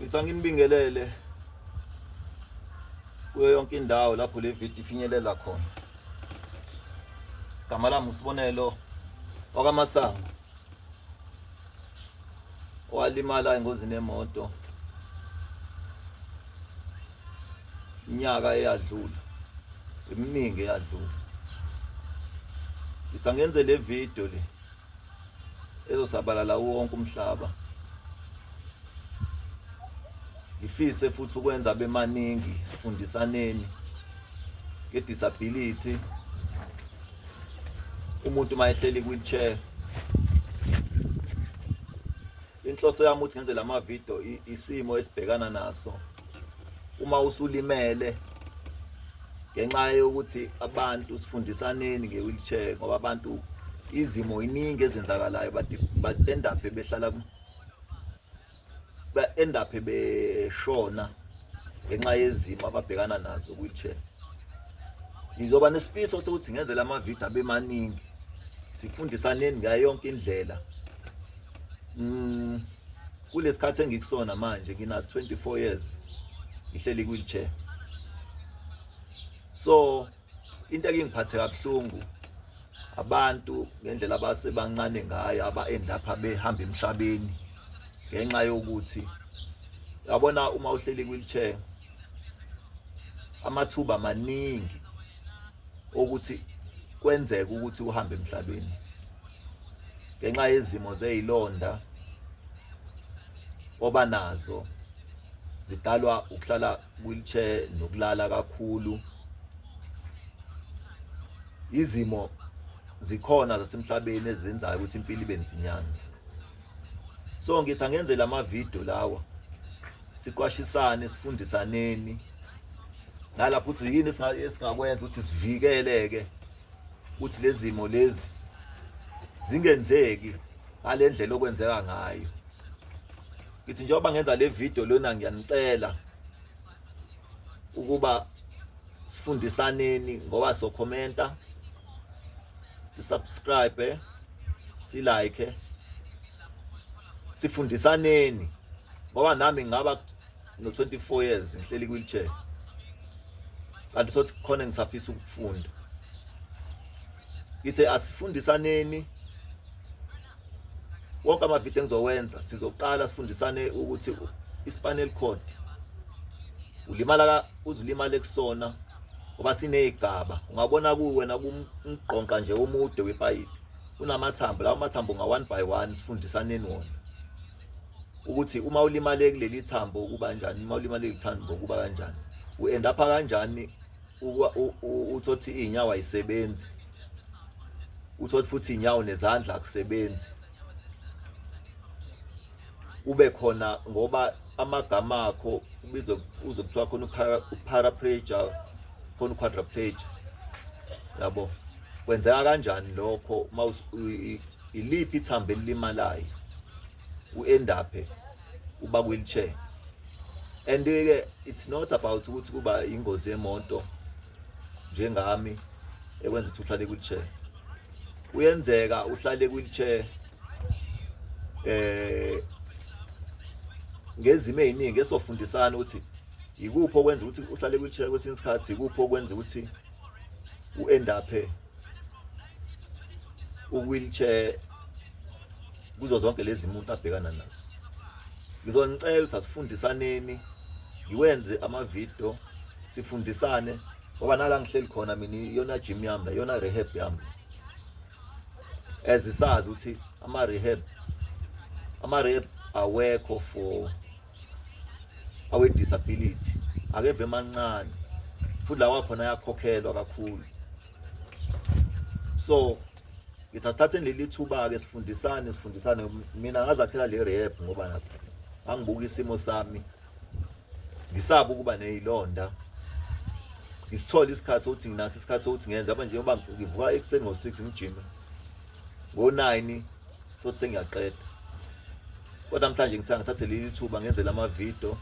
ngithi anginibingelele kuyo yonke indawo lapho le video ifinyelela khona gama lami usibonelo wakamasango owalimala engozini yemoto iminyaka eyadlula eminingi eyadlula ngithi angenze le video le ezosabalala wonke umhlaba ngifise futhi ukwenza bemaningi sifundisaneni ngedisability umuntu uma ehleli kwi-chair inhloso yami ukuthi ngenze lama video isimo esibhekana naso uma usulimele ngenxa yokuthi abantu sifundisaneni nge-wheelchair ngoba abantu izimo iningi ezenzakalayo but end up behlala ba end up beshona ngenxa yezimo ababhekana nazo wheelchair ngizoba nesifiso sokuthi ngenze lama video abe maningi sifundisaneni ngayo yonke indlela mm kulesikhathi engikusona manje ngina 24 years ngihleli wheelchair so into ake ngiphathe kabuhlungu abantu ngendlela abasebancane ngayo aba-end up behamba emhlabeni ngenxa yokuthi yabona uma uhleli kwi-wheelchair amathuba maningi okuthi kwenzeka ukuthi uhambe emhlabeni ngenxa yezimo zeyilonda oba nazo zidalwa ukuhlala wheelchair nokulala kakhulu izimo zikhona zasemhlabeni ezenzayo ukuthi impilo ibe nzinyana so ngithi angenze lama video lawa siqwashisane sifundisaneni nalapho ukuthi yini esingakwenza ukuthi sivikeleke ukuthi lezimo lezi zingenzeki ngalendlela okwenzeka ngayo ngithi njengoba ngenza le video lona ngiyanicela ukuba sifundisaneni ngoba so commenta si subscribe si like sifundisaneni ngoba nami ngaba no 24 years ngihleli wheelchair kanti sothi khona ngisafisa ukufunda ithe asifundisaneni wonke amavidiyo engizowenza sizoqala sifundisane ukuthi ispanel code ulimala uzulimala kusona ngoba sinezigaba ungabona kuwena kumgqonqa nje omude wepayipi unamathambo lawo mathambo nga one by one sifundisaneni wona ukuthi uma ulimale kuleli thambo ukuba kanjani uma ulimale kuleli thambo ukuba kanjani u-end up kanjani uthothi iy'nyawo ayisebenzi uthothi futhi iy'nyawo nezandla akusebenzi kube khona ngoba amagama akho ubizwe uze kuthiwa khona uparaplegia khona uquadriplegia yabo kwenzeka kanjani lokho uma Iliphi ithambo elilimalayo uendaphe uba wheelchair and ke it's not about ukuthi kuba ingozi yemonto njengami ekwenza ukuthi uhlale kwichair uyenzeka uhlale kwichair eh ngezimo eziningi esofundisana ukuthi yikuphi okwenza ukuthi uhlale kwichair kwesinye isikhathi yikuphi okwenza ukuthi uendaphe uwheelchair kuzo zonke lezi muntu abhekana nazo ngizonicela ukuthi asifundisaneni ngiwenze amavidiyo sifundisane ngoba nala ngihleli khona mina iyona gym yami la iyona rehab yami ezisazi ukuthi ama-rehab ama-rehab awekho for awe-disability akeve mancane futhi lawa khona ayakhokhelwa kakhulu so ngithi asithatheni leli thuba-ke sifundisane sifundisane mina ngazakhela le rehab ngoba nakho angibuka isimo sami ngisaba ukuba neyilonda ngisithole isikhathi sokuthi nginaso isikhathi sokuthi ngenze yabo njengoba ngivuka ekuseni ngo-six ngijime ngo-nine futhi sengiyaqeda kodwa namhlanje ngithe ngithathe leli thuba ngenze la mavidiyo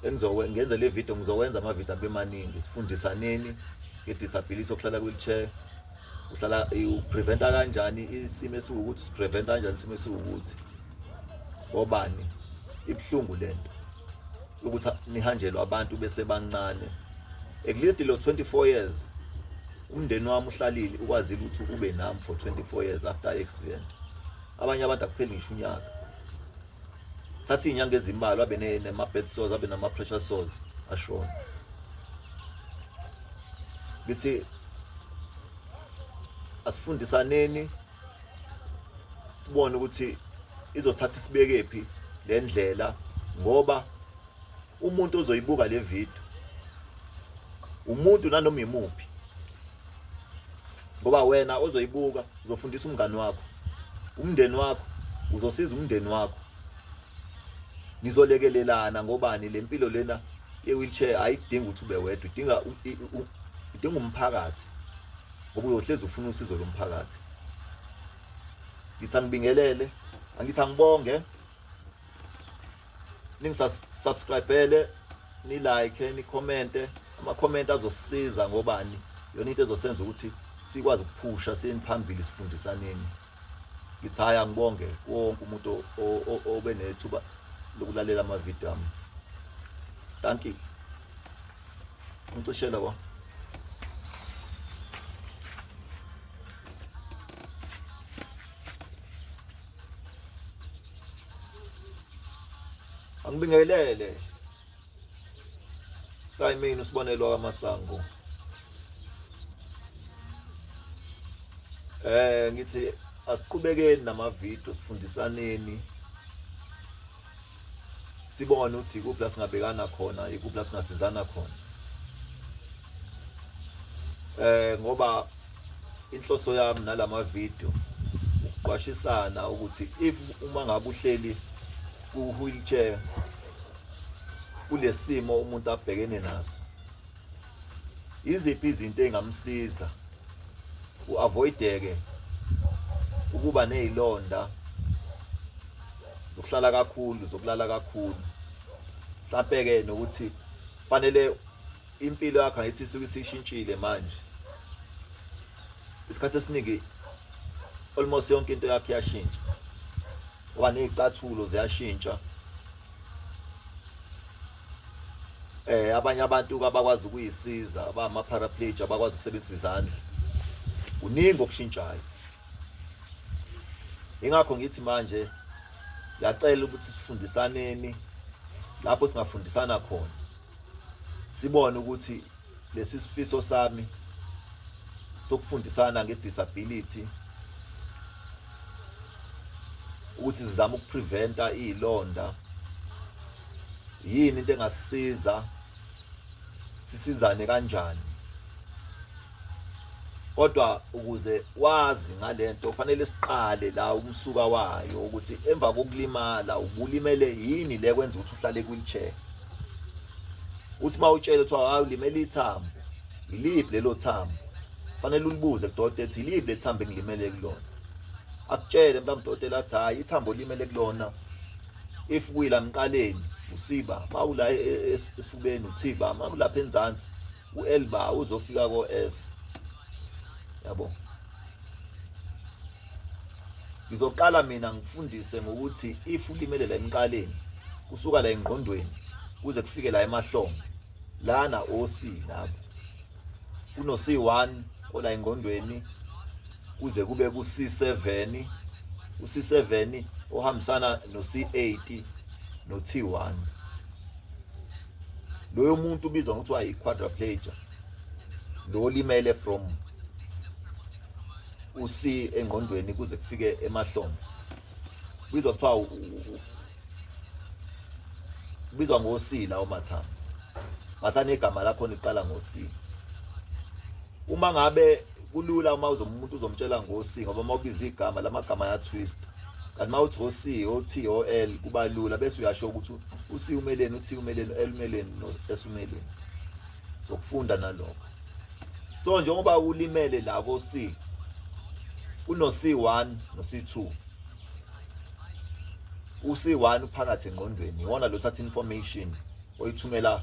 ngenze le vidiyo ngizowenza amavidiyo abe maningi sifundisaneni ngedisability okuhlala kwi-wheelchair uhlala upreventa kanjani isimo esiwukuthi sipreventa kanjani isimo esiwukuthi ngobani ibuhlungu le nto ukuthi nihanjelwe abantu besebancane at least lo 24 years umndeni wami uhlalile ukwazile ukuthi ube nami for 24 years after accident abanye abantu akupheli ngisho unyaka thatha inyanga ezimbalwa abe nema bed sores abe nama pressure sores ashona ngithi asifundisaneni sibone ukuthi izothatha isibekephi le ndlela ngoba umuntu ozoyibuka le video umuntu nanoma imuphi ngoba wena ozoyibuka uzofundisa umngani wakho umndeni wakho uzosiza umndeni wakho nizolekelelana ngobani le mpilo lena ye-wheelchair ayidingi ukuthi ube wedwa idinga idinga umphakathi ngoba uyohlezi ufuna usizo lomphakathi ngithi angibingelele angithi angibonge ningisubscribele nilike nikhomente amakhomenti azosisiza ngobani yona into ezosenza ukuthi sikwazi ukuphusha siyeni phambili sifundisaneni ngithi hhayi angibonge wonke umuntu obe nethuba lokulalela amavidiyo ami thank you Ucishe labo. Angibingelele. Sayimini usibonelwa kamasango. Eh ngithi asiqhubekeni namavideo sifundisaneni sibone ukuthi ikuphi la singabekana khona ikuphi la singasizana khona eh ngoba inhloso yami nalama video ukuqwashisana ukuthi if uma ngabe uhleli ku wheelchair kulesimo umuntu abhekene naso Iziphi izinto engamsiza uavoideke ukuba nezilonda zokuhlala kakhulu zokulala kakhulu mhlampe ke nokuthi fanele impilo yakhe ayithi isuke isishintshile manje isikhathi esiningi almost yonke into yakhe yashintsha oba nezicathulo ziyashintsha eh abanye abantu abakwazi ukuyisiza abama paraplegic abakwazi ukusebenzisa izandla kuningi okushintshayo ingakho ngithi manje ngiyacela ukuthi sifundisaneni lapho singafundisana khona sibone ukuthi lesi sifiso sami sokufundisana ngedisability ukuthi sizama ukupreventa izilonda yini into engasisiza sisizane kanjani kodwa ukuze wazi ngalento kufanele siqale la umsuka wayo ukuthi emva kokulimala ubulimele yini le kwenza ukuthi uhlale kwichair uthi uma utshele kuthiwa hayi ulimele ithambo yiliphi lelo thambo fanele ulibuze kudokotela ethi yiliphi le thambo engilimele kulona akutshele mntu amdokotela athi hhayi ithambo olimele kulona if kuyila mqaleni usiba mawula e, e, esifubeni uthiba mawulapha enzansi uelba uzofika ko s yabo ngizoqala mina ngifundise ngokuthi if ulimele la emqaleni kusuka la engqondweni kuze kufike la emahlombe lana oc lapho kuno c1 ola engqondweni kuze kube ku c7 u c7 ohambisana no c8 no t1 loyo muntu ubizwa ngokuthiwa yi-quadraplegia lo olimele from uc engqondweni kuze kufike emahlombe ubizwa kuthiwa ubizwa ngosila omathambo ngathani igama lakho liqala ngosila uma ngabe kulula uma uzomuntu uzomtshela ngosi ngoba uma ubiza igama lamagama ayatwist kanti uma uthi ngosi ot ol kuba lula bese uyasho ukuthi usi umeleni uthi umeleni elumeleni esumeleni sokufunda nalokho so njengoba ulimele la ko C kuno C1 no C2 u C1 uphakathi engqondweni iwona lo thatha information oyithumela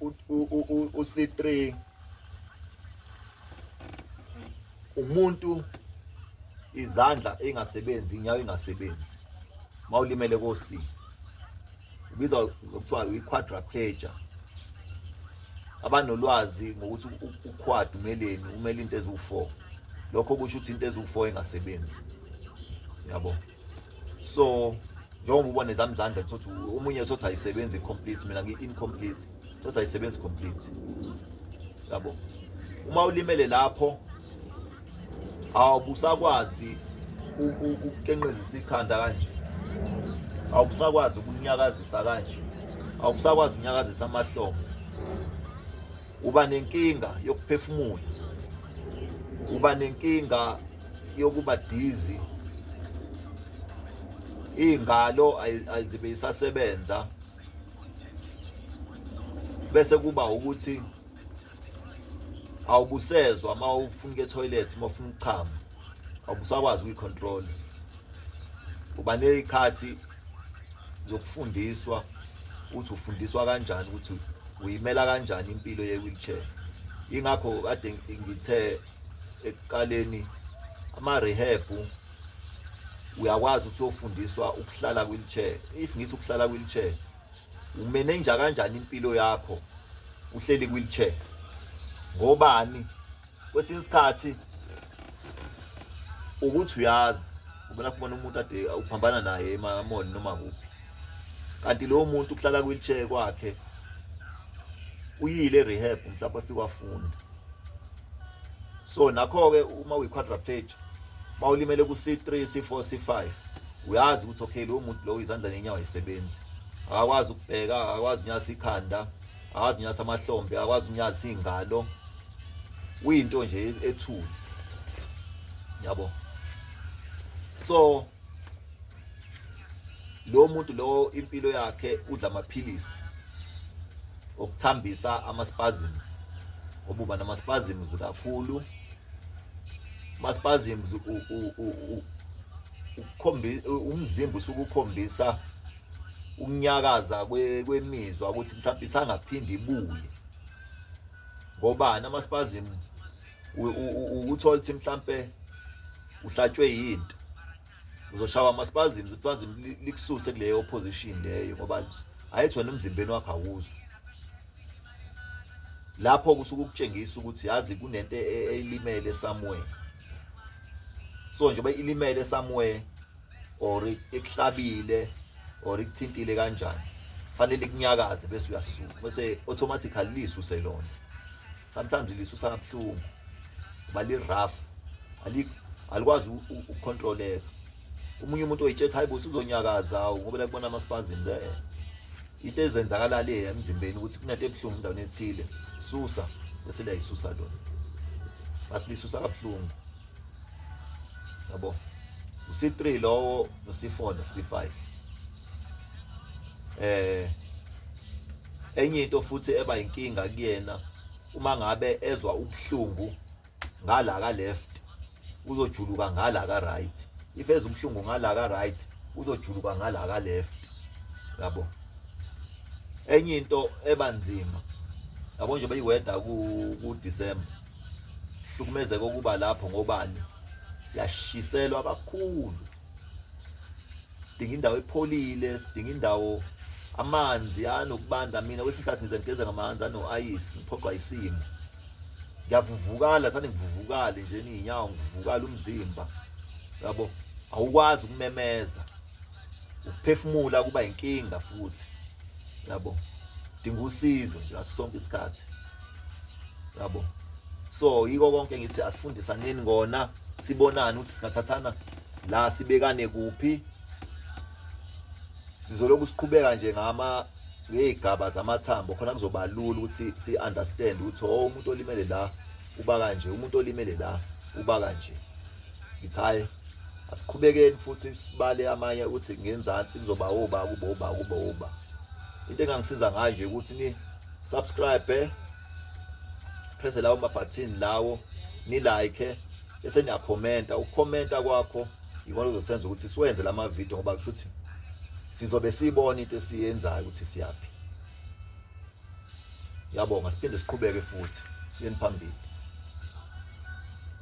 uC3 umuntu izandla engasebenzi inyawo engasebenzi mawulimele koC ubiza kuthiwa uyi-quadriplegia abanolwazi ngokuthi uquad umeleni umele into eziwu-4 lokho kusho ukuthi into eziwu-4 engasebenzi yabo so njengoba ubona ezami izandla thothi omunye thothi ayisebenzi complete mina ngi-incomplete thothi ayisebenzi complete yabo uma ulimele lapho awubusakwazi ukukenqezisa ikhanda kanje awubusakwazi ukunyakazisa kanje awubusakwazi ukunyakazisa amahlombe uba nenkinga yokuphefumula uba nenkinga yokuba dizi iy'ngalo azibe isasebenza bese kuba ukuthi awubusezwa uma ufuna ukuya etoilet uma ufuna ukuchama awubusakwazi ukuyicontrol uba nezikhathi zokufundiswa ukuthi ufundiswa kanjani ukuthi uyimela kanjani impilo ye-wheelchair ingakho kade ngithe ekuqaleni ama-rehab uyakwazi usuyofundiswa ukuhlala kwi-wheelchair if ngithi ukuhlala kwi-wheelchair umenenja kanjani impilo yakho uhleli kwi-wheelchair ngobani kwesinye isikhathi ukuthi uyazi ubona kubona umuntu ade uphambana naye emamoni noma kuphi kanti lowo muntu uhlala kwi-wheelchair kwakhe uyile rehab mhlawumbe afike wafunda so nakho-ke uma uyi-quadraplegia uma ulimele ku-c3 c4 c5 uyazi ukuthi okay lowo muntu lowo izandla nenyawo ayisebenzi akakwazi ukubheka akakwazi unyasa ikhanda akazi unyasa amahlombe akwazi unyasa iy'ngalo uyinto nje e-, ethule yabo so lo muntu lo impilo yakhe udla amaphilisi okuthambisa ama-spasms ngoba uba nama-spasms kakhulu ama-spasms ukhombisa umzimba usukukhombisa ukunyakaza kwemizwa ukuthi mhlawumbe isangaphinde ibuye ngobani amaspasm ukuthola ukuthi mhlawumbe uhlatshwe yinto uzoshawa amaspasm uspasm likususe kuleyo position leyo ngoba ayithi wena emzimbeni wakho awuzwa lapho kusuke ukutshengisa ukuthi yazi kunento e-, elimele somewhere so njengoba ilimele somewhere or ikuhlabile or ikuthintile kanjani fanele kunyakaze bese uyasuka bese automatically lisuse lona sometimes lisusa kabuhlungu kuba li rough ali alikwazi ukucontroleka umunye umuntu oyitshetha hayibo usuzonyakaza awu ngoba la kubona amaspasm there into ezenzakala le emzimbeni ukuthi kunento ebuhlungu endaweni ethile susa bese liyayisusa lona but lisusa kabuhlungu yabo usi3 lowo nosi4 nosi5 eh enye into futhi eba inkinga kuyena uma ngabe ezwa ubuhlungu ngala ka left uzojuluka ngala ka right if ezwa ubuhlungu ngala ka right uzojuluka ngala ka left yabo enye into ebanzima yabo nje beyiweda ku December hlukumezeka okuba lapho ngobani siyashiselwa kakhulu sidinga indawo epholile sidinga indawo amanzi anokubanda mina kwesikhathi ngize ngigeze ngamanzi anoayisi ngiphoqwa isimo ngiyavuvukala sane ngivuvukale nje niyinyawo ngivuvukala umzimba yabo awukwazi ukumemeza ukuphefumula kuba inkinga futhi yabo dinga usizo nje ngaso sonke isikhathi yabo so yiko konke ngithi asifundisaneni ngona sibonane ukuthi singathathana la sibekane kuphi sizoloku siqhubeka nje ngama ngey'gaba zamathambo khona kuzoba lula ukuthi si-understand ukuthi o oh, umuntu olimele la uba kanje umuntu olimele la uba kanje ngithaye asiqhubekeni futhi sibale amanye ukuthi ngenzansi kuzoba oba kuba oba kuba oba into engangisiza ngayo nje ukuthi ni subscribe eh? press lawo ma button lawo ni like eh? bese niya commenta ukucomenta kwakho yikona uzosenza ukuthi siwenze lama video ngoba kusho ukuthi sizobe sibona into esiyenzayo ukuthi siyaphi yabonga siphinde siqhubeke futhi siyeni phambili